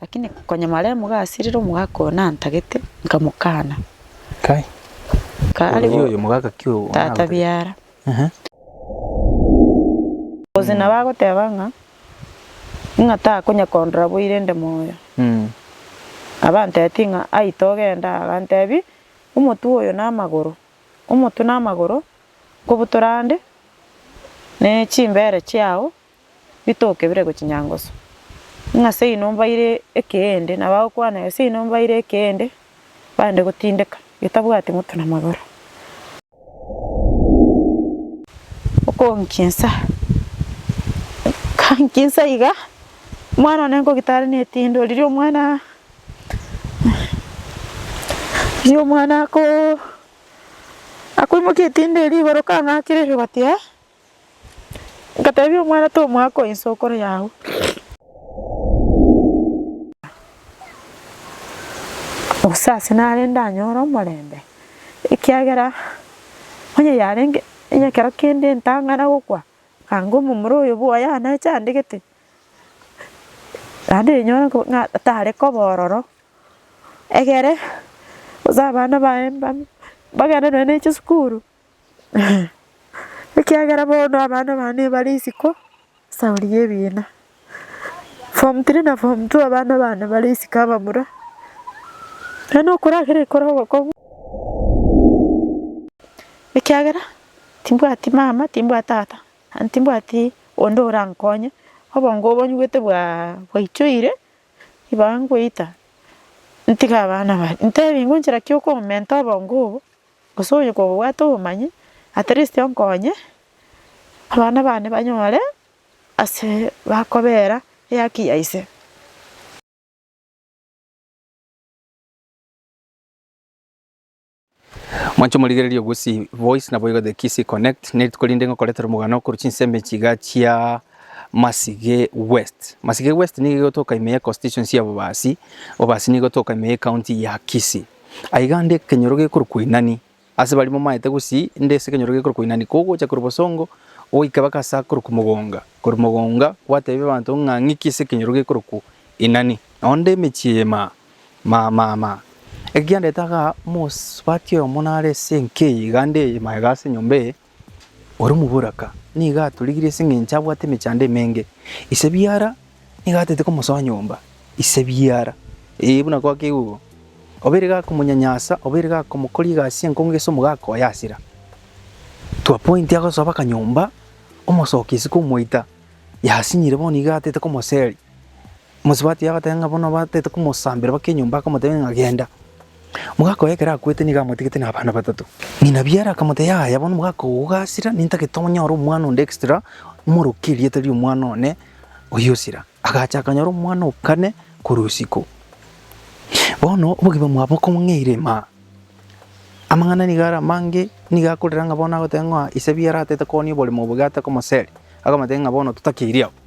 Lakini konyamara emogasiirire omogaka oyo nantagete, nkamokana. Kare bono, tata biara. Gose nabo agoteba ng'a, ng'a takonya kondora boire nde moyo. Abantebitie ng'a, Ai togende aa. Agantebi, Omotwe oyo namagoro, omotwe namagoro, nkobutora ande, ne chimbere chiao bitokebire gochia nyangoso, ng'a seino mbaire ekeende, na bagokwana, Gose seino mbaire ekeende, bande gotindeka, getabwati moto na magoro. Okonkinsa, kankinsa iga, omwana one nkogita are netindo, riria omwana, riria omwana ako, akoimokia etindo eria igoro, kang'akire igoro, gati ee. Ngatebia omwana tomwaka oyo inse okore yao. Gose ase nare ndanyore omorembe, ekiagera onye yarenge onye ekero kende ntang'ana gokwa, anga omomura oyo bwoye aneche andegete, naende rinyore ko ng'a tare koba ororo, egere gose abana baye mbabia mbagende nonya ne chisukuru, Ekiagera bono abana bane bare isiko saori y'ebiina. Form three na form two abana bane bare isiko abamura. Naende nokoragera ekero ogokong'u ekiagera timbwati mama, timbwati tata, naende timbwati onde orankonye. Obongo obo nyigwete bwa bwaichoire ibaga ngoita ntige abana bare. Ntebi ngonchera ki okomenta obongo obo. Gose onye kogobwate obomanyi, at least onkonye abana bane banyore ase bakobera ehaki ya ise. Mwanche morigererie Gusii Voice naboigo The Kisii Connect, nerituko rinde ngokoretera omogano korwa chinsemo echi iga chia Masige West. Masige West nigo igotoka ime ya Constituency ya Bobasi, Bobasi nigo igotoka ime ya ecounty ya Kisii. Aiga nde ekenyoro gekorokwa Inani. Ase baria momaete gosii, nde ase ekenyoro gekorokwa Inani. Kogocha korwa bosongo, goika baka ase akorokwa Mogonga. Korwa Mogonga, gwateebia abanto ng'a ng'iki ase ekenyoro gekorokwa Inani. Nao nde emechie eye maa, maa, maa, maa. Eke kiandete agaa, omosubati oyomo nare ase enka eye, iga nde eye maa iga ase enyomba eye. Or'omoboraka nigo atorigirie ase engencho abwate emechando emenge. Ise biara nigo atete komosoa nyomba. Ise biara, ee, buna goake igwo, obeire gakomonyanyasa, obeire gakomokoria egasi y'enkonge gese omogaka oye asira. To a point agosoa baka nyomba, omosoki isiko omoita, yasinyire bono nigo atete komoseria. Mosubati agateba ng'a bono batete komosambera bake enyomba, akamotebia ng'a genda. Mogaka oye ekero akwete nigo amotigete na abana batato. Ng'ina biara akamotebia yaya bono mogaka oo ogasira nintagete onyore omwana onde extra omoroke erieta ri'omwana one oyio osira. Agacha akanyora omwana o kane korwa isiko. Bono obogima bwaye bokong'eire maa. Amang'ana nigo are amange nigo akorera ng'a bono agoteba ng'a ise biara atete kooni oborimo obo iga atakomoseria, akamotebia ng'a bono totakeiri abwo.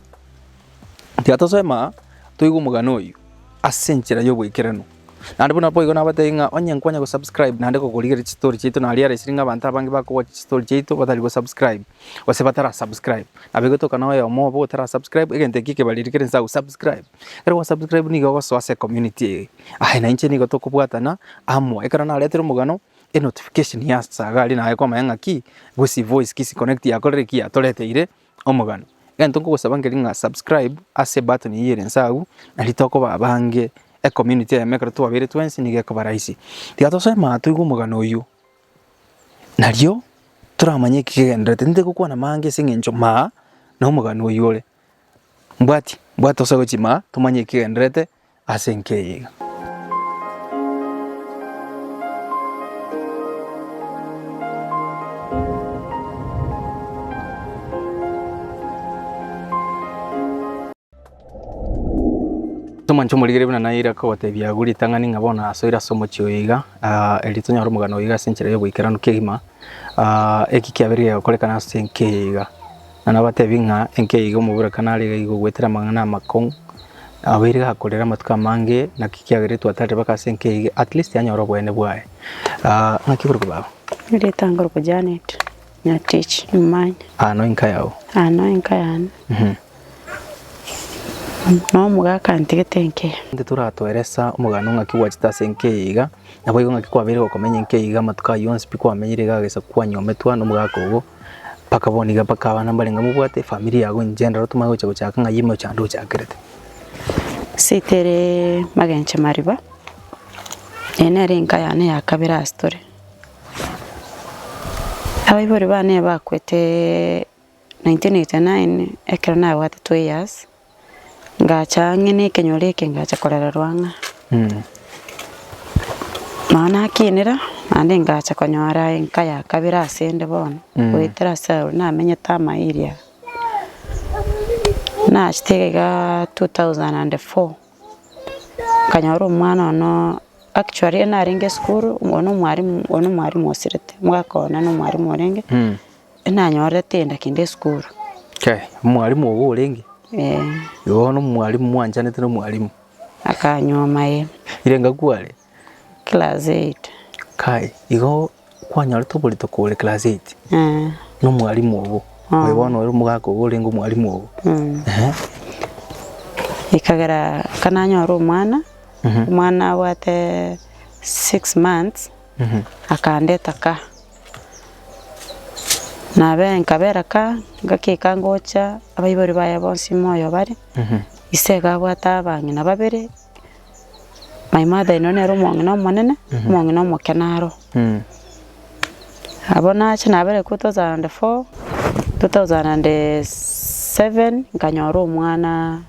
Tiga tosema toigwe omogano oyio ase enchera y'oboikeranu. Naende buna boigo nabatebi ng'a onye nkwanya gosubscribe naende gokorigereria chistory chiaito nari are esiri ng'a abanto abange bakowachi chistory chiaito batari gosubscribe gose batara subscribe. Nabo egetokana na oyomo obo otara subscribe egento ekio ekebariri kere inse agosubscribe. Ekero gwasubscribe nigo ogosoa ase ecommunity eye. Aye na inche nigo tokobwatana amo. Ekero naretire omogano enotification yasaga aria naye kwamanya ng'a ki, gose evoice ki, connect yakorire ki yatoreteire omogano. Egento nkogosaba nkere ng'a subscribe ase ebutton eyio ere inse agwo naende tokoba abange ecommunity eyemo ekero twabeire twensi nigo ekoba rahisi. Tiga tosema aa toigwe omogano oyio nario toramanye eki kegendererete tintari gokwana amange ase eng'encho maa nomogano oyio ore. Mbwati mbwati tosoe gochia maa tomanye eki kegendererete ase enkeyega. Tomanche omorigereria buna naye ere akogotebia agwo ritang'ani ng'a bono asoire ase omochie oyo iga, ah, eri tonyore omogano oyo iga ase enchera y'oboikeranu kegima, ah, eki kiabeire gegokorekana ase enkeyega. Na nabateebie ng'a enkeiga omoburekano are iga igo goetera amang'ana amakong'u, abe iga akorera amatuko amange, naki kiagera intwe atarire bake ase enkeiga, at least anyore oboene bwaye. Ah, ng'aki oborokigwa babo? Erieta nkorokwa Janet Nyatich Imanya. Ah, no enka yao? Ah, no enka yane. Mhm. Nomoga akantigete enkeya. Intwe toratoeresa omoganda o ng'aki gwachete ase enkeiga, Naboigo ng'aki kwabeire gokomenya enki eyio iga amatuko ayio onsi pi kwamenyire iga agesa kwanyometwa nomogaka obo, mpaka bono iga mpaka abana mbarenge iga mobwate efamiri yago inche endoro tomanye gocha gochaka ng'ai ime ochande ochakerete. Ase tere magencho mariba, eye nere enka yane ya kabere ase tore. Abaibori bane bakwete. 1989 ekero nabwate 2 years, ngacha ang'e na ekenyoro eke ngacha korererwa ng'a nonya nakinera naende ngacha konyora enka ya kabere ase ende bono goetera ase aro namenyete Amairia. Nachete iga iga 2004 nkanyora omwana one actually riria narenge esukuru oyo na omwarimu oyo na omwarimu osirete, mwaka one na omwarimu orenge. Nanyorete enda kende esukuru. Okay, omwalimu ogo orenge? Eh. Igo bono omwalimu mwanchanete na omwalimu? Akanyuoma eh. Ire nga kware? Class eight. Kai, igo kwanyorete oborituko ore class eight? Eh. Na omwalimu ogo? Eh. Oyo bono ore omogaka ogo orenge omwalimu ogo? Eh. Ehe. Ekagera aka nanyore omwana, omwana abwate six months, akandeta ka. Nabe nkabereka, ngakeka ngocha abaibori baye bonsi moyo bare, ise iga abwate abang'ina babere, my mother in law nere omong'ina omonene, omong'ina omokena aro. Abwo nacha nabere two thousand and four, two thousand and seven, nkanyora omwana.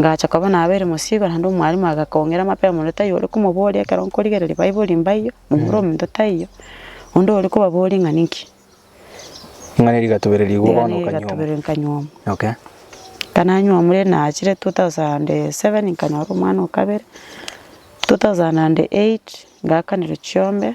Ngacha koba nabeire mosiigo, naende omwalimu agakong'ira mapera omonto taiyo ore komoboria ekero nkorigereria Baibori mbaiyo, momura omonto taiyo, onde ore kobaboria ng'a ninki. Ing'ana eria igatobereria igwo Igana bono eria okanywa omo. igatobereria nkanywa omo. Okay. Ekero nanywa omo riria nachire 2007 nkanyora omwana o kabere, 2008 ngaakanerwa chiombe,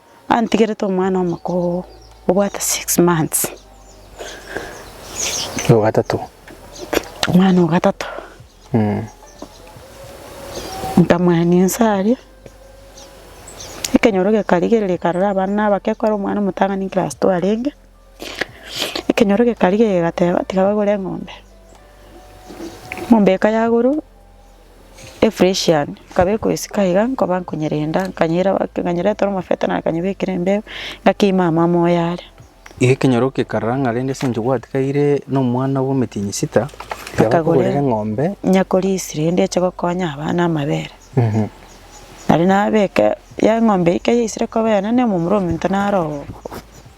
antigerete omwana omoko oo obwate six months, Ogatato. omwana ogatato, nkamwania inse aria, ekenyoro gekarigereria karora abana na abake ekero omwana omotang'ani class two arenge, ekenyoro gekarigereria kegateba tiga bagore eng'ombe, eng'ombe eka yagorwa. efresh yane, nkaba ekoesika iga nkoba nkonyerenda, nkanyera nkanyeretera omofeto na nkanyebekera embeo, ngakeima amo amo oyare. Iga ekenyoro gekarara ng'a rende ase eng'encho gwatigaire nomwana bw'omotienyi sita, tiga Akagorera. bakogorera eng'ombe. nyakorisia rende eche gokonya abana amabere. Nari nabeke ya eng'ombe eke yaisire koba eyane na omomura omento naro oo,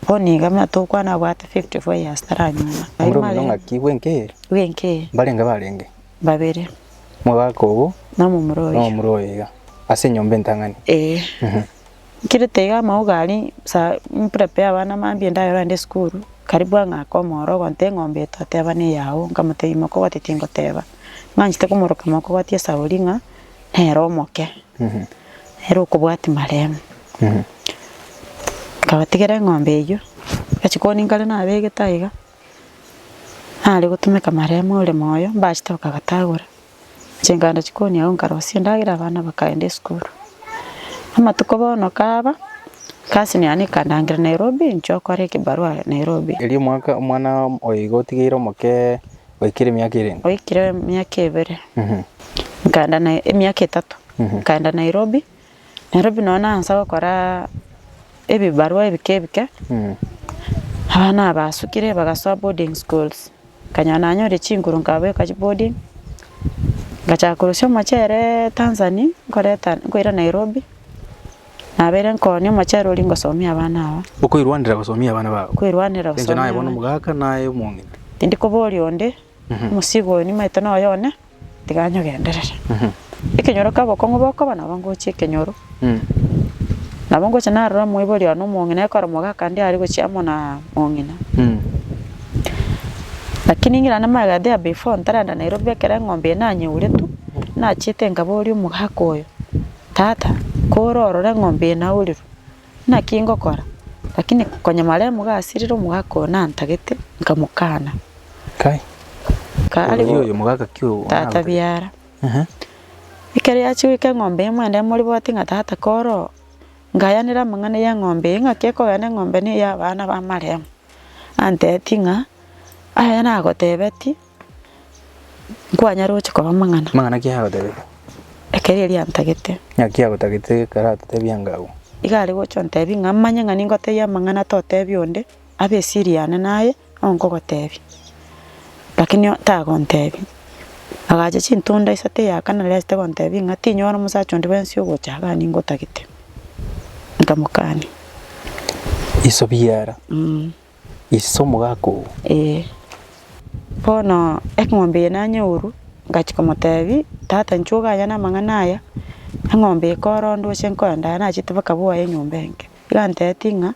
bono iga buna tokwana abwate fifty four years taranyora. Omura omonto ng'aki bw'enki? bw'enki? Mbarenge barenge. Babere. Mogaka obo. Na omomura oyo. Na omomura oyo iga. Ase enyomba entang'ani. Ee. Nkirete iga amauga aria sa mprepare abana mambia endagera ande esukuru, karibu ang'ake omoro ogonte eng'ombe eto ateba neyao, nkamotebia imoka obwate tingoteba. Ng'anchete komoroka imoka obwate esauri ng'a nere omoke. Nere okobwati maremu. Nkabatigera eng'ombe eyio. Agachia koonia nkare nabegete aiga. Nare gotumeka maremo ore moyo, mbachete bakagotagora, chinganda chikoni agwo nkarosia endagera abana bakaenda esukuru. Amatuko bono kaba, egasi yane ekandangira Nairobi, nchia gokora ekebarua Nairobi. Erio omwaka omwana oyo iga otigeire omoke oikire emiaka erenge? Oikire emiaka ebere, nkaenda Nai- emiaka etato, nkaenda Nairobi. Nairobi nonya nansa gokora ebibarua ebike bike, abana aba basukire bagasoa boarding schools, nkanyora nanyore chinguru nkabeka chi boarding, ngachaka korosia omochere Tanzani nkoreta nkoira Nairobi, nabeire nkooni omochere oria ngosomia abana aba, Okoirwanera gosomia abana bago? koirwanera Inche gosomia naye bono abana. omogaka naye omong'iti. Tindi koboria onde, omosigo oyo nimaete noyo one, Tiga nyogenderere. Ekenyoro kia obokong'u bokoba nabo ngochia ekenyoro. Nabo ngochia narora omoibori one omong'ina ekoromoka akande aria gochia amo na mong'ina. Lakini ningira naende magega there before ntarenda Nairobi ekero eng'ombe eye nanyeuretwe, nachiete nkaboria omogaka oyo, Tata, kore orore eng'ombe eye naurirwe, Naki ngokora? Lakini konyamaremu gasirire omogaka oyo nantagete, nkamokana. Kare bo, tata biara. Ekero yachia goika eng'ombe eye mwende emoriboti ng'a tata kore oo, nkayanera amang'ana y'eng'ombe eye ng'aki ekogenda eng'ombe neye y'abana b'amaremu. Antebetie ng'a, Aya nagotebetie. Nkwanyare gochia korwa amang'ana. Amang'ana ki agotebete? Ekero erio antagete. Naki agotagete ekero atetebia anga agwo? Iga are gocha ontebie ng'a manye ng'a ningotebie amang'ana totebia onde, abe esiri yane naye nigo nkogotebia. Lakini o- tagontebia. Agacha chintunda isato eya kane nario achete gontebia ng'a tinyora omosacha onde bwensi ogocha iga ningotagete. Nkamokania. Iso biara. Ise omogaka oo? Ee. Bono eng'ombe eye nanyeoru, ngachia komotebi, Tata inchuo oganya namang'ana aya, eng'ombe eye korondwe ase nkoenda aya nachete baka bwoye enyomba enke. Iga anteti ng'a,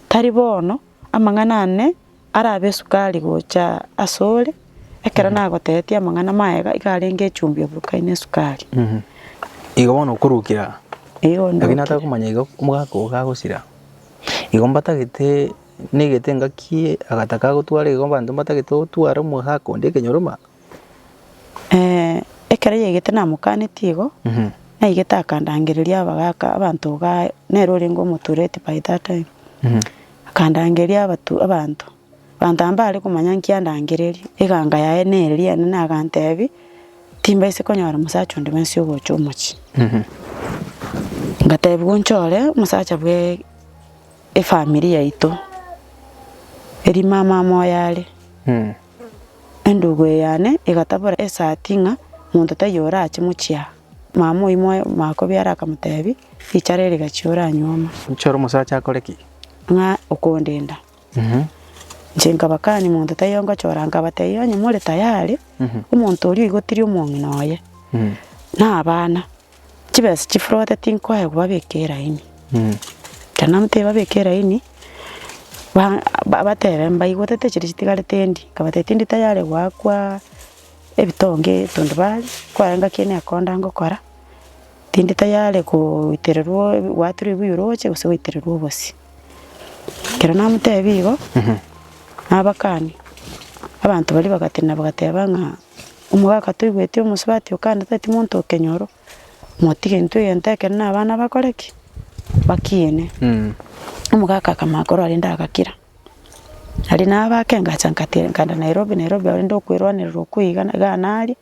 Tari bono, amang'ana ane arabe esukari gocha asore, ekero nagoteetie amang'ana mayega iga arenge echumbi oburukaine esukari. Igo bono okorukera. Igo ndokia. Lakini atakomanya igo omogaka oo gagosira. Igo mbatagete negete engaki agataka agotwara igo abanto mbatagete gotwara omogaka onde ekenyoroma. Ekero yaigete namokanetie igo, naigete akandangereria abagaka abanto igaa nere orenge omotureti by that time, akandangeria abatu abanto. Abanto mbare komanya nki andangereria, eganga yaye nere riane, na agantebi, Timbaise konyora omosacha onde bwensi ogocha omochie. Ngatebi, Gonchore omosacha bwe efamiri yaito, eri mama amo oyare. Endugu eye yane egatabora esati ng'a monto taiyo orache mochie aa. Mama oyio moe makobiara akamotebi, Richara ere gachia oranyuoma. Nchore omosacha akore ki? Ng'a okondenda. Inche nkabakania omonto taiyo ngochora, nkabateebia, 'Onye more tayari, omonto oria oigotirie omong'ina oye, na abana, chibesa chifrote tinkoe kobabeka elaini. Ekero namotebirie babeke elaini, ba- ba- batebe mbaigotete chiria chitigare tindi, nkabateebia tindi tayari goakwa ebitonge ebinto baria, kwarenga ki nekonda ngokora, tindi tayari goitererwa goaterwa ebuyoro oche gose goitererwa obosie. Ekero namotebia igo, nabakania, abanto baria bagatenena bagateba ng'a omogaka toigweti omosubati okana tati monto o kenyoro, motige intwe egento ekero na abana bakore ki? Bakiine. Omogaka akamanya korwa rende agakira. Aria nabake engacha nkatenena Nairobi, Nairobi abarende okoerwanerera okwo iga iga naria.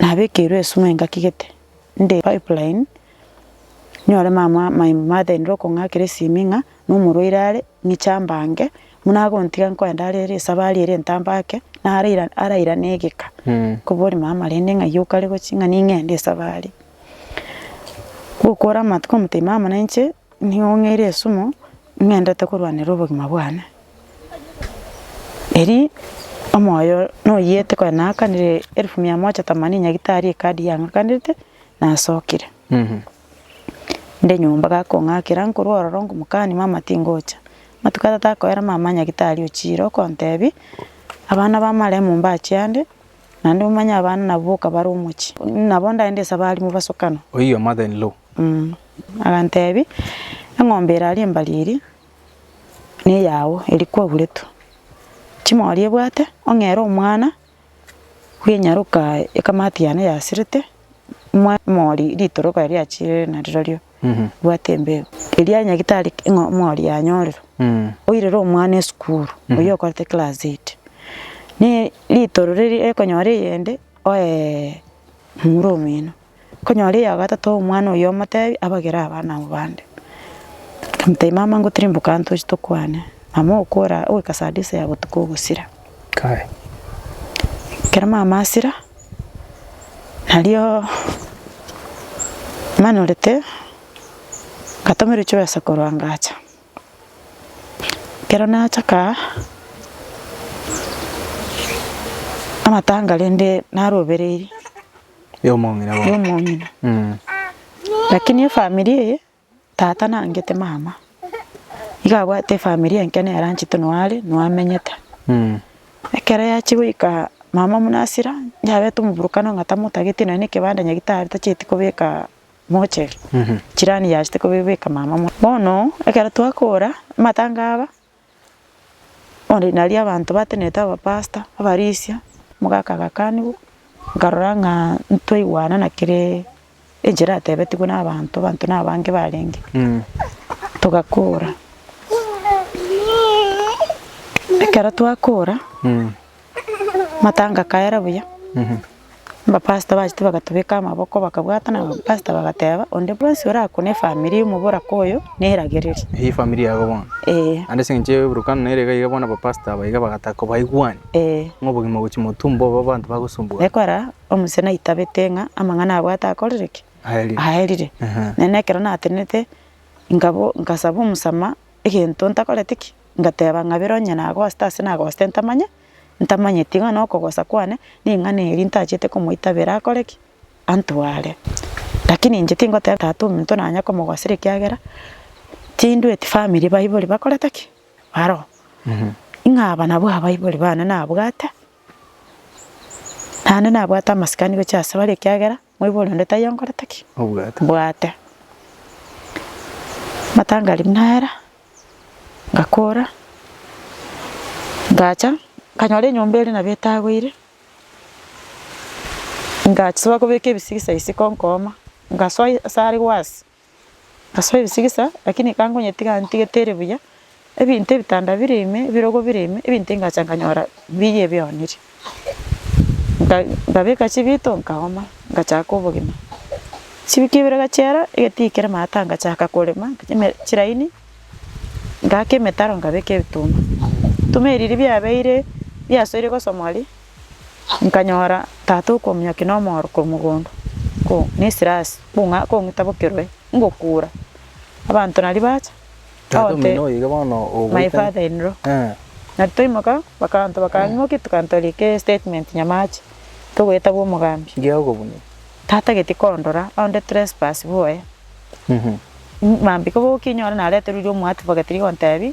nabekeirwe esug'uma engaki gete, nde pipeline, nyore mama my mother in law okong'akera esimi ng'a nomorwaire are, ng'iche ambange, buna agontiga nkoenda are ere esabari ere entambe ake, naraira araira na egeka, nkobori mama rende ng'ai okare gochi ng'a ning'ende esabari. Gokora amatuko omotienyi mama nainche, nigo ng'eire esumo. ng'endete korwanera obogima bwane, erio omoyo noyete konya naakanire elfu mia moja themanini nyagitari ekadi yang'akanete, nasokire. Nde nyomba gakong'akera nkorwa ororo nkomokani mama tingocha. Amatuko atato akoera mama nyagitari ochire okontebia, abana ba maremu mbachie ande. Naende omanye abana nabo boka bare omochie, nabo ndaende nse abarimu basokana. Oyio your mother in law. Agantebia, Eng'ombe ere aria mbari eria neyao, eria kwaguretwe. Chimori ebwate, ong'ere omwana bw'enyaroka ekamati yane yasirete, mwa emori ritoroka riachirire narirorio. bwate embeo eria ya nyagitari ng'a omori yanyorire, oirire omwana esukuru, oyio okorete class eight, ne ritoro riria ekonyora eyende oeeee mura omino, okonyora eya gatato omwana oyio omotebi abagere abana abwo bande, omotebi mama ngotirimboka tochi tokwane, mama okora oika saa tisa ya botuko ogosira. Kae. Ekero mamasira, nario manyorete ngatomerwa chibesa korwa ngacha, ekero nacha kaa, amatanga rende narobereiri Yomong'ina bwo. yomong'ina, lakini efamiri eye. Tata nangete mama nigo abwate efamiri enke nere anchete noo are noo amenyete. Ekero yachia goika mama buna hasira yabeta omoburokano ng'a tamotageti nonye na ekebanda nyagete are tacheti kobeka mocheri chirani yachete kobeka mama. Bono ekero twakora amatanga aba Bono nario abanto batenenete abapastor, abarisia, omogaka agakanigwa, nkarora ng'a ntwaigwana na kere enchera eratebetigwe na abanto, abanto na abange barenge, togakora ekero twakora. matanga akaera buya, abapastor bachia tibagatobeka amaboko bakabwatana na abapastor bagateba onde bwensi orakune efamiri y'omoboraka oyo neragereri. Eye efamiri yago bono. Eeh. Naende ase eng'encho y'eborokano nere iga iga bono abapastor aba iga bagataka kobaigwani, Eeh. ng'a obogima gochia motumbo obo abanto bagosumbwa. Ekora omosee naitabete ng'a amang'ana abwate akorire ki? Aerire. Aerire. Aha. Naende ekero natenenete, nkabo- nkasaba omosamaha egento ntakoreti ki, ngateba ng'a bire onye nagosete ase nagosete ntamanye, ntamanyeti iga nabo okogosa kwane ring'ana eri ntachete komoitabera akore ki, antware. Lakini inche tingoteba tata ominto nanye komogosera ekiagera tindweti family baibori bakorete ki, baroo. Ng'a aba nabwo abaibori bane nabwate, naende nabwate amasikani gochia ase bare ekiagera. Moibore onde taiyo nkorete ki? Obwate. Bwate. Matangari buna era, ngakora, ngacha, nkanyora enyomba eria nabo etagoire, ngasoa kobeka ebisigisai isiko nkooma, ngasoa asare gwasi. Ase ebisigisa, lakini ka nkonyetiga ntigete ere buya, ebinto ebitanda bire ime, ebirogo bire ime, ebinto engacha nkanyora mbiya ebioneire. Nka nkabeka chibito nkaoma, ngachaka obogima. Chiwiki ibere gachiera, egetii kere maata ngachaka korema eme chiraini, ngaaka emetaro nkabeka ebituma. Ebituma ebi riria biabeire biasoire gosomoria. Nkanyora tata okominyokia na omooro korwa mogondo, ko nesirasi kong'a kong'ita bokerwe ngokura. Abanto naria bacha, Tata ogote omino oyoiga bono ogoita. my father in law. Eh. Nario twaimoka bakanto bakang'imokia tokantoria ke statement nyamache, togoeta bwa omogambi. Ngiya okobunye. Tata geti kondora onde trespass boye. Mambia koba okinyore nareterwe riria omoadvocate riria ogontebia.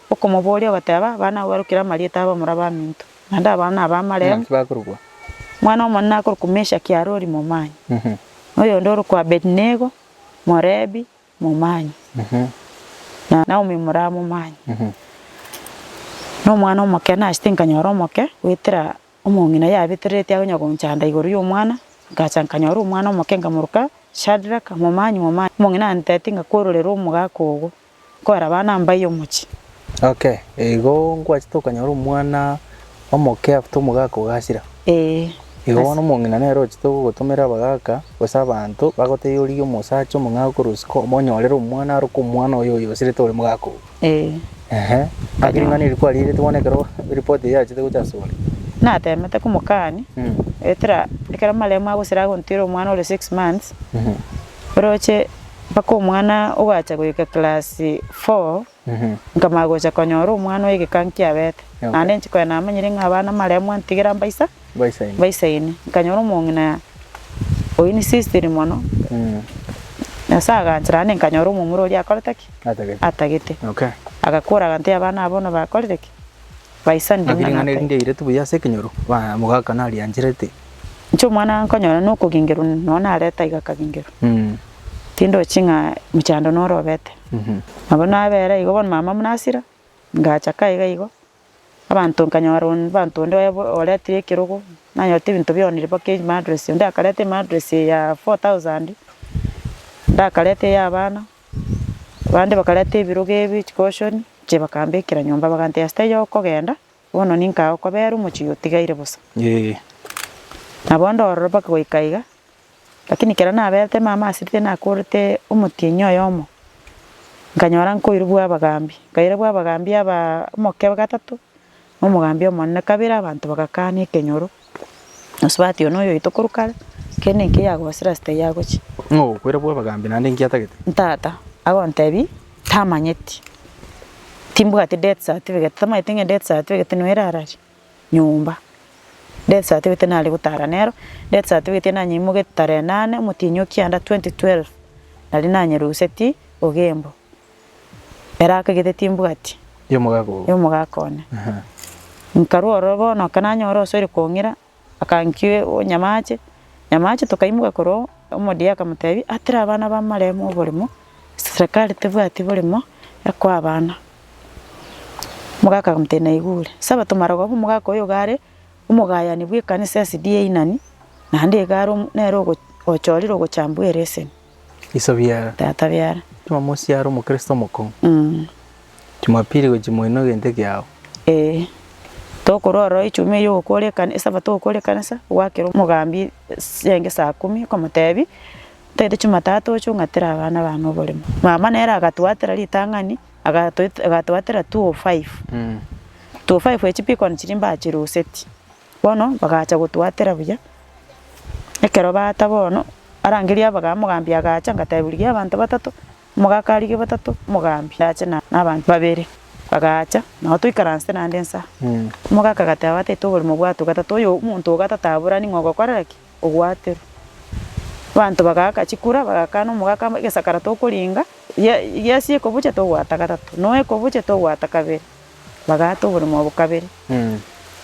Okomobooria ogateba, Abana abwo barokire amarieta abo moraba aminto, naende abao naba amaremu. Naki bakorokwa? Omwana omonene akorokwa Meshaki Arori momanyi, na oyonde orokwa Abedinego, Morebi, momanyi, na Naomi moraba momanyi. Na omwana omoke nachete nkanyora omoke goetera omong'ina yabeterereti akonya gonchanda igoro y'omwana, ngacha nkanyora omwana omoke nkamoroka Shadraka, momanyi, momanyi. Omong'ina anteeti ng'a kwororera omogaka ogo. nkoraba namba y'omochie. Okay, igo nkwachete okanyora omwana omoke afte omogaka ogasira. Ee. Igo bono omong'ina nere ochete gogotomera abagaka gose abanto bagotebie origie omosacha omong'ao korwa isiko omonyorere omwana aroke omwana oyo oyosirete ore mogaka oo. Ee. Ehe. Naki ring'ana eri kwarigereti bono ekero eripot eyio yachete gocha asore. Natemete komokania. Etera ekero amaremo agosira agontera omwana ore six months. Orooche mpaka omwana ogacha goika class four, nkamanya gocha konyora omwana oegeka nkiabete, naende inche konya namanyire ng'a abana maremwa ntigera mbaisa mbaisaine. Nkanyora omong'ina oyio n'insisted mono, Nyasaye aganchera naende nkanyora omomura oria akorete ki? atagete. Agakora agantebia abana aba bono bakorire ki? Baisa Ng'aki nding'ana ring'ana eri ata? ngeireti buya ase ekenyoro? Bana, mogaka nariancherete. Inche omwana nkonyora nokogengerwa nonye nareta aiga akagengerwa. Mm. Tindochi ng'a mochando noro obete. Mhm. Nabo nabera igo bono mama buna asira, ngacha kae iga igo, abanto nkanyora onde abanto onde oye bo- oretire ekerogo, nanyorete ebinto bionire mpaka emadress, onde akareta emadress ya four thousand, onde akareta eya abana. Abande bakareta ebirogo ebio chikoshoni inche bakambekera nyomba bagantebia ase taiyo okogenda, bono ninka agokobera omochie oyo otigaire bosa. Nabo ndororo mpaka goika iga, lakini ekero naberete mama ase rituko nakorete omotienyi oyomo, nkanyora nkoirwa bwa abagaambia, nkairwa bwa abagaambia abaa omokebe gatato, nomogambi omonene kabere abanto bagakana ekenyoro, gose batia oyio noyoito korwa kare, kende enki eyagosire ase taiyo agochia. Ng'a ogokwera bw'abagambi naende enki atagete? Ntata, agontebie, tamanyeti, timbwati death certificate, tamanyeti ng'a death certificate nigo erararie nyomba, death certificate nare gotara nero, death certificate ere nanyeimoketie tarehe nane omotienyi o kianda twenty twelve, nari nanyerusetie ogembo. Ere akagete timbwati Y'omogaka obo. y'omogaka one. Aha. Nkarwa ororo bono ekero nanyora osoire kong'ira, akankia onyamaache, nyamaache tokaimoka korwa omodia akamotebi, Atera abana b'amaremo oboremo, serekari tebwati boremo ekoa abana. Omogaka akamotebia naigure. Sabato marogoba omogaka oyo iga are omogayani bw'ekanisa ya SDA Inani, naende iga are omo- nere ogo- ochorire ogochambwa ereseni. Iso biara. Tata biara. Jumamosi yare omokristo omokong'u. Mh. Jumapili gochi moino egento ekiao. Ee. Tokorwa ororo echuma eyo ogokora ekane, esabato ogokora ekanisa, ogwakera omogambi enge saa kumi okomotebi, ntagete jumatatu oche ong'atere abana bane oboremo. Mama nere agatwatera ritang'ani, agatwatera two o five. Two o five echio pi kona chiria mbachiruseti. Bono bagacha gotwatera buya, ekero baata bono, arangeria abagabu omogambi agacha ngateba rigia abanto batato, omogaka arigie batato, omogambi ache na na abanto babere, bagacha nabo toikaranse naende inse aa. Omogaka agateba batato oborimo bwatwe gatato, oyo omonto o gatato aburani ng'a ogokorera ki? Ogwaterwa. Abanto bagaaka chikura bagakana omogaka egesakara tokoringa, ye- yesi ekobucha togwata gatato, noe ekobucha togwata kabere. Bagaata oborimo obo kabere.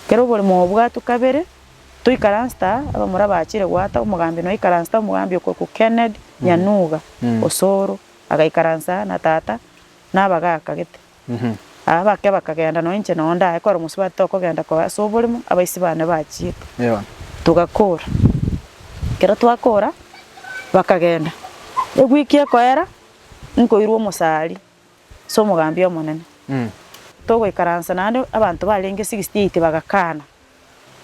Ekero oborimo obo bwatwa kabere, toikaransete aa, abamura bachire goata, omogambi noikaransete, omogambi okorokwa Kennedy Nyanuga Osoro, agaikaransa aa na tata na abagaaka gete. Aa bake bakagenda nonye inche noo ndaye kore mosubati tokogenda koba ase oborimo, abaisi bane bachiete. Togakora, ekero twakora, bakagenda. Ewiki ekoera, nkoirwa omosaaria, ase omogambi omonene. Togoikaransa naende abanto barenge 68 bagakana.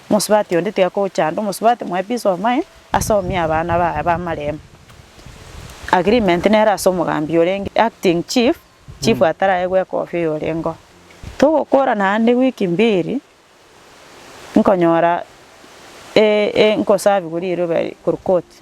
Omosubati onde tiga kochanda omosubati mwaye piece of mind ase omia abana baye b'amaremo. Agreement nere ase omogambi orenge acting chief, chief ataraegwa ekofi oyorengeo. Togokora naende wiki mbiri nkonyora e e nkosabiwa riroba korwa koti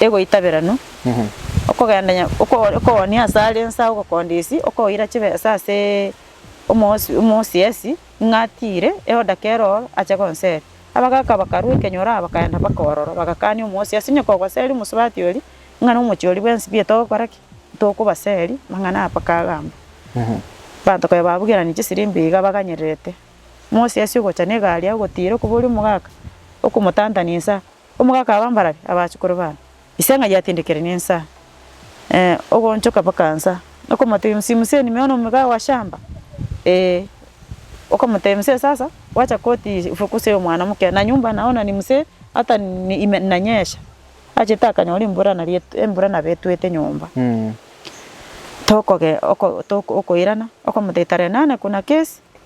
egoitaberanwa, okogenda nya oko okoonia ase are ense agwo okondisia, okoira chibesa ase omosi omosiesi ng'a atiire eodaka ero oro ache gonsera. Abagaka bakarwa ekenyoro aba bakaenda mpaka ororo bagakania omosiasi onye kogoseria omosubati oria ng'a na omochie oria bwensi mbiya togokora ki? Tokobaseria mang'ana aya mpaka agambe. Abanto konya babugerani chisirimbi iga baganyererete, omosiasi ogocha na egari agotiira okoboria omogaka okomotantani insa Omoka akaba mbarabwo abachukuru bane, ise ng'a yatindikerwe nensa, ee, ogoonchoka mpaka nsa, okomoteebia, Msimuseni nimeona omoika wa shamba? Ee. Okomoteebia, Msee sasa, gwacha koti ifukusie omwana omoke, na nyumba naona ni msee, hata ni ime inanyesha. Achete akanyora embura nari et embura nabo etwete nyomba. Tokogee oko toko okoirana, okomoteebia, Tarehe nane kuna kesi,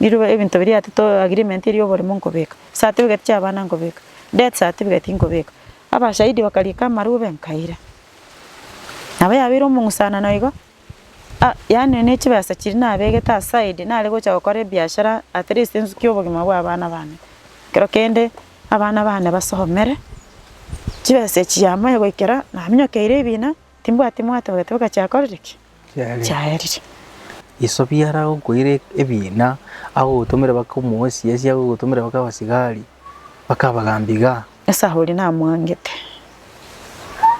Riroba ebinto biria ati to agreement eria oborimo nkobeka. Certificate chia abana nkobeka. Death certificate nkobeka. Abashahidi bakariika amarube nkaira. Nabo yabeire omong'usanano igo, ah yaani ne chibesa chiria nabegete aside nare gocha gokora ebiashara at least nsukie obogima bwa abana bane. Ekero kende abana bane basomere, chibesa echi chiamoe goikera naminyokeire ebina. Timbwati mwato bagateboka chiakorire ki? Chiaerire. Yeso biara agokoira ebiina agogotomera bakomoesiesia agogotomera baka abasigari bakabagambia igaa. Nyasae oria namwangete.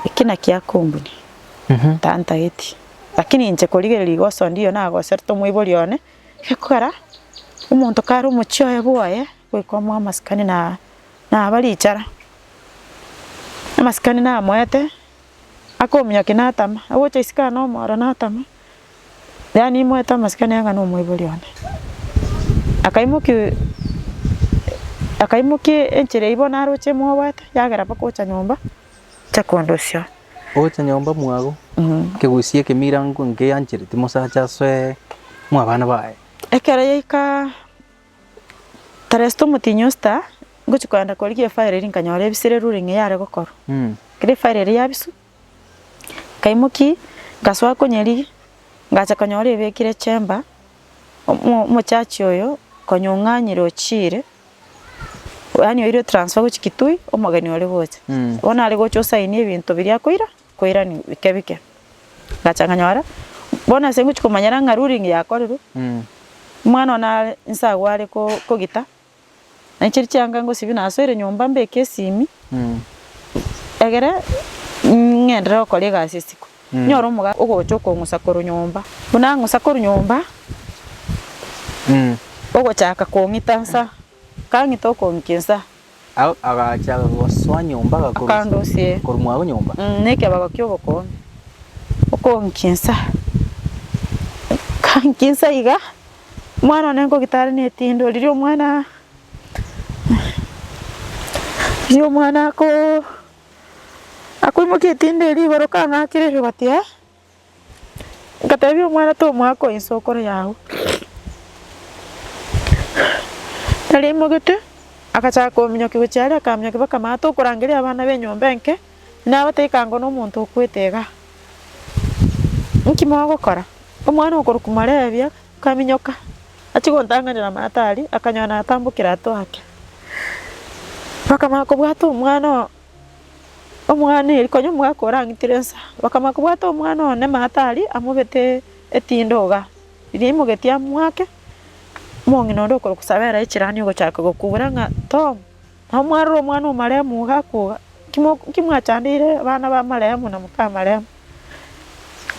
Eki naki akombuni. Tantageti. Lakini inche korigereria iga osondi oyo nagoserete omoibori one, egekogera omonto kare omochie oye bwoye goika omoe amasikani na naba richara. Amasikani namoete. Akominyokia natama, agocha isiko aye nomoro natama, yaani imoete amasikani aye ng'a nomoibori one. Akaimoki akaimoki enchera eyio bono aroche emwoboete, yagera mpaka gocha nyomba, acha kondosia. Ogocha nyomba mwago, kegusia ekemira nko nkeyanchereti mosacha asoe mwabana baye. Ekero yaika. Teresita omotienyi o Sita, ngochia kogenda korigia efire eria nkanyora ebisire eroro ring'ana yare gokorwa. Ekero efire eria yabiswa, nkaimokia ngasoa konyerigia, ngacha konyora ebekire chamber, omo- omochachi oyo konya ong'anyire ochiire, yaani oirwe transfer gochia Kitui, omogeni ore gocha. Bono nare gocha osaini ebinto biria akoira, koirania bike bike, ngacha nkanyora bono ase ngochia komanyera ng'a ruling yakorerwe, omwana one are inse agwo are ko- kogita, naende chiria chianga ngosibie nasoire nyomba mbeke esimi, egere ng'endere gokora egasi esiko, nyore omoga ogocha okong'usa korwa nyomba, buna ang'usa korwa nyomba, ogochaka kong'ita nsa. Kang'e tokoonkia ensa. Agwo agacha gosoa nyomba agakorusia. Akandosia. Korumwa agwo nyomba. Nekebago ki'obokoonyi. Okoonkia ensa. Nkaankia ensa iga, omwana one nkogita are netindo riria omwana riria omwana ako akoimokia etindo erio igoro kang'akire riroba ati ee. Ngatebia omwana tomwaka oo inse okore yao. Nari aimogete agachaka kominyoki gochia aria akaminyoki baka mama tokorangeria abana be nyomba enke nabatebia kango na omonto okwete igaa. Nki mogokora? Omwana okorokwa marebia kaminyoka achia gontang'anera mama tari akanyora natambokire atwake. Baka mama kobwata omwana oo. Omwana Eri konya omwaka orang'itire ensa, bakamanya kobwata omwana one Matari amobete etindoga, riria aimogetie amwake omong'ina onde okorokwa Sabera echirani ogochaka gokubura ng'a Tom, nabo mwarora omwana omarehemu iga akoga, inki mwachandeire abana ba marehemu na moka marehemu?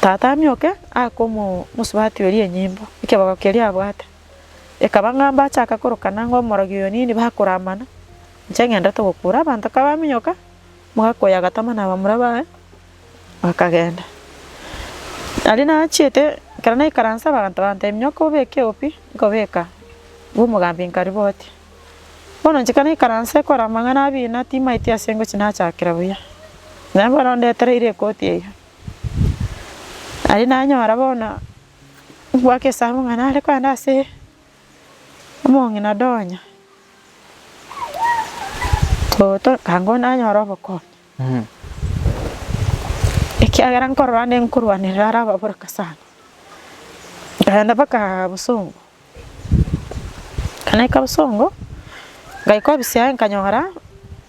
Tata amioke aake omosubati oria enyimbo, ekebago keria abwate. Ekaba ng'a mbachaka korokana ng'a omorogi oyo nini bakoramana, inche ng'endete gokuura abanto. Kabaminyoka, omogaka oyo agatama nabamura baye, bakagenda. Aria nachiete, ekero naikaranse abanto bantebia, Nyoka obeke opi? Nkobeka ng'a omogambi nkariboti. Bono inche kanaikaranse ekora amang'ana abina timaeti ase ngochi nachakera buya, naye bono ondetereire ekoti eyio. Aria nanyora bono. Ogwaka esabu ng'a nare kogenda ase omong'ina donya toto anga onde anyore obokonyi, ekiagera nkorora nde nkorwanerera are ababoraka sana. Nkagenda mpaka bosongo, ekero naika bosongo, ngaika ofisi yaye nkanyora.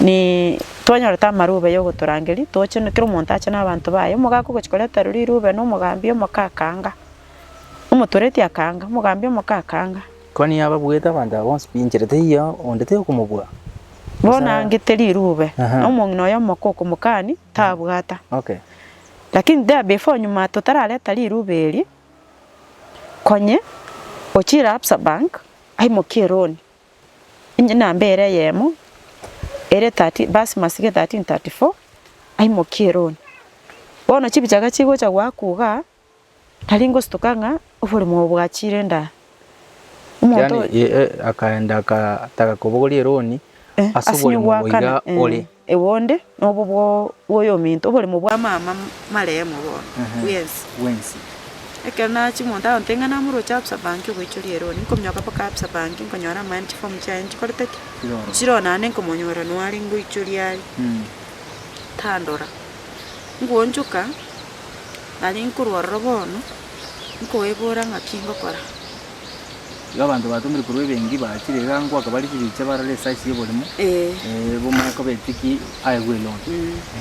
Nini twanyorete amaroba yogotorangeria toche kera omonto ache na abanto baye, omogaka ogochia koretera riroba ere omogambi omoke akaanga, omotoreti akaanga, omogambi omoke akaanga. Koni yababuete abanto aba bonsi pi inchera teiyo onde tay'okomobua? Bono aangete riroba, Aha. na omong'ina oye omoke okomokani, tabwata. Okay. Lakini there before nyuma totarareta riroba eri, konye ochire Absa bank, aimokie eroni. na mbeera eyemo ere 13 verse masike 13 34 aimokie eroni. Bono chibichaga chigocha goakwa igaa, tari ngostuka ng'a oborimo obo bwachire indaa. Omonto Yaani, eh, eh, akaenda akataka kobogoria eroni Eh, ase ase oborimo obo iga goakana, eh. ore. Ewe onde nobo bw'oyominto, oboremo bwa mama maremo bono bw'ense. Ekero nachia omonto agontebia ng'a namoroche absa banki ogoichoria eroni, nkominyoka mpaka absa banki, nkonyora amaene chifomu chiaye nchikorete ki? Chiroro naende nkomonyora noare ngoichoria aria, tandora. Nkoonchoka, nari nkorwa ororo bono, nkoebora ng'aki ngokora. Igo abanto batomire korwa ebengi bachire iga ngoaka bare chibicha barore esize y'oborimo, Ee. eh, bomanye koba etiki aegwe eloan.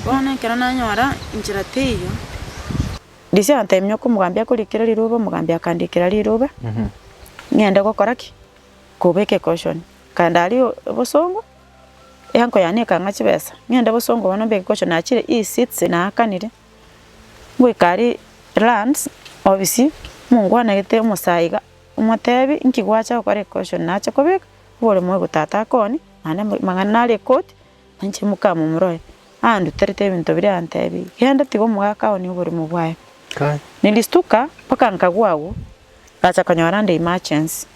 Bono ekero nanyora inchera teiyo, Disi agatebia nyoko omogambi akorikere riroba, omogambi akandikera riroba, ng'ende gokora ki? Koba ekekoshoni. Kare ndari o- obosongo, enko yane ekang'a chibesa, ng'ende bosongo bono mbe egekoshoni nachire ii seeds naakanire, Gwikari lands obisi mongwanegete omosayi iga omotebi inki gwacha gokora equetion nache kobeka obore moyo tata akoni naende amang'ana nare ekoti nainche moka momoroe anduterete ebinto biria antebi genda tiga omogaka one oborimo bwaye. Nilistuka mpaka nkagwa agwo ngacha konyora nde emergency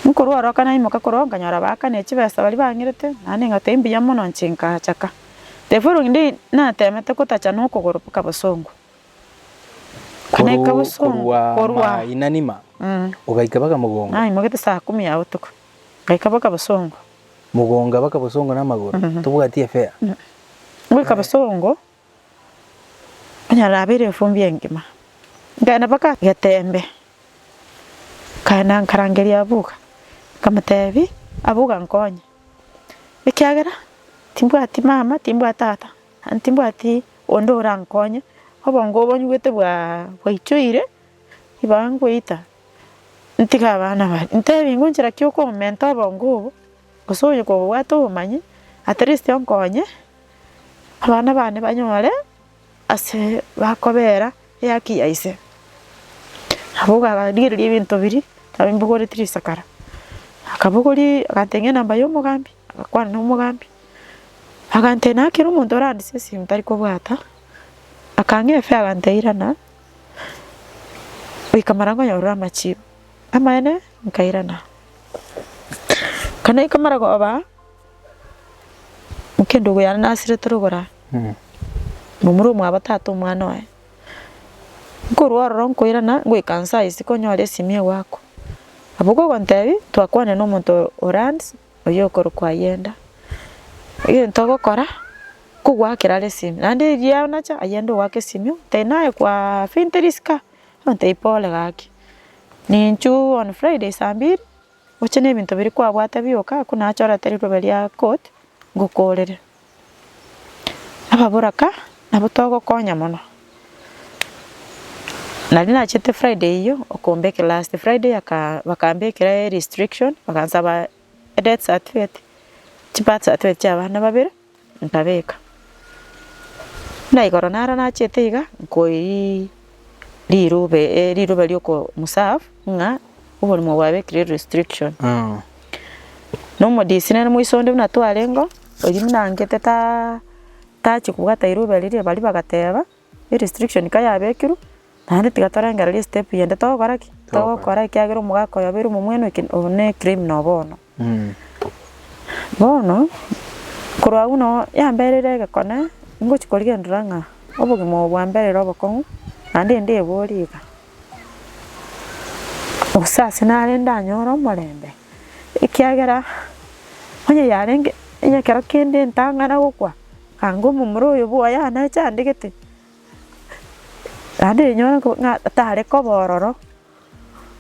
nkorwa oroka naimoka korwa oo nkanyora baakane chibesa baria bang'irete naende ngoteba mbuya mono inche nkaachaka. Therefore rogende natemete gotacha nokogoro boka bosongo. Kana Korwa ekabosongo korwa korwa ama inanima, Mm. ogaika baka mogongo, Ai mogete saa kumi ya botuko. Gaika boka bosongo. mogonga baka bosongo na amagoro, Mhm. tobwati efea. Goika bosongo onyara abeire efumbi engima. Nkaenda boka getembe. Nkaenda nkarangeria Abuga. Nkamotebi, Abuga nkonye. ekiagera timbwati mama, timbwati tata, aye timbwati onde orankonye, obongo obo nyigwete bwa bwaichoire, ibaga ngoita ntiga abana aba, ntebie ngochira ki okomenta obongo obo, gose oyo kobwate obomanyi, atleast onkonye abana bane banyore. Ase bakobeera ehaki ya ise, nabo okabarigereria ebinto biria nabimbogoretie risakara. Akabogoria agateng'ena enamba y'omogambi, agakwana nomogambi, agantebia naki kera omonto orandisie esimi tari kobwata, akang'ea efe agantebia irana, goika mara nkonyorere amachibi. Amaene nkairana, ekero naika mara koba. Mokende ogo yare nasire tore ogora momura omwabo tata omwana oye. Nkorwa ororo nkoirana ngoika nse aye isiko nyore esimi egoakwa. Abwo kogontebia twakwane na omonto o lands oyio okorokwa Ayenda. Egento ogokora kogoakera are esimi naende erio nacha Ayenda ogoaka esimi oo tari naye kwa fintiri sika ontebia pole gaki ninchu on Friday saa mbiri. Gocha nebinto biria kwabwate bioka aku nachorete rirobe ria court ngokoorere. Ababoraka nabo togokonya mono. Naria nachete Friday eyio okombekera last Friday aka bakambekera restriction bagansaba death certificate, chibirth certificate chia abana babere. Nkabeka, na igoro naro nachete iga, nkoiri rirube, eh, rirube ri'oko muserve ng'a oborimo bwabekire restriction. Nomodisi nere moiso onde buna twarengo, oyio buna angete ta, tachi kobwata rirube riria, baria bagateba. Eye restriction ka yabekirwe, naende tiga torengererie estep eyende togokora ki? Togokora ekiagera omogaka oyo abeire omomwenu eke obo na ecriminal bono. Bono, korwa agwo noo yamberire egekone, ngochi korigerera ng'a obogima obo bwamberire obokong'u, naende ndebori iga, gose ase nare ndanyore omorembe, ekiagera, onye yarenge, onye ekero kende ntang'ana gokwa. Anga omomura oyo bw'Yohana achandegete, naende rinyore ng'a tare koba ororo.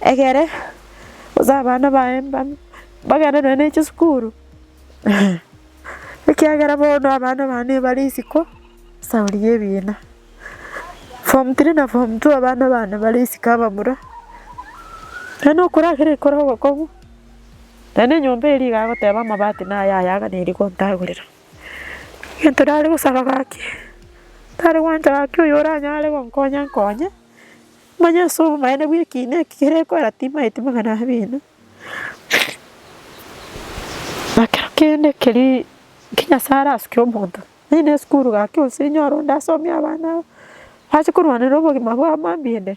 Egere gose abana baye mbambe bagende nonya ne chisukuru, ekiagera bono abana bane bare isiko ase aria y'ebiina. Form three na form two abana bane bare isiko abamura, yaani okora kera ekero ogokong'u, naende enyomba eria iga agoteba amabati naye aya iga nere gontagorera. egento nare gosaba gaki, tare gwancha gaki oyo oranyare gonkonya nkonye, manye ase obomaene bw'ekiina eki kere koera timaeti magana abere ime, na kero kende keria ki Nyasae arasuke omonto, onye ne esukuru gaki onsi nyore onde asomie abana aba, ase korwanera obogima bwabo mambia ende.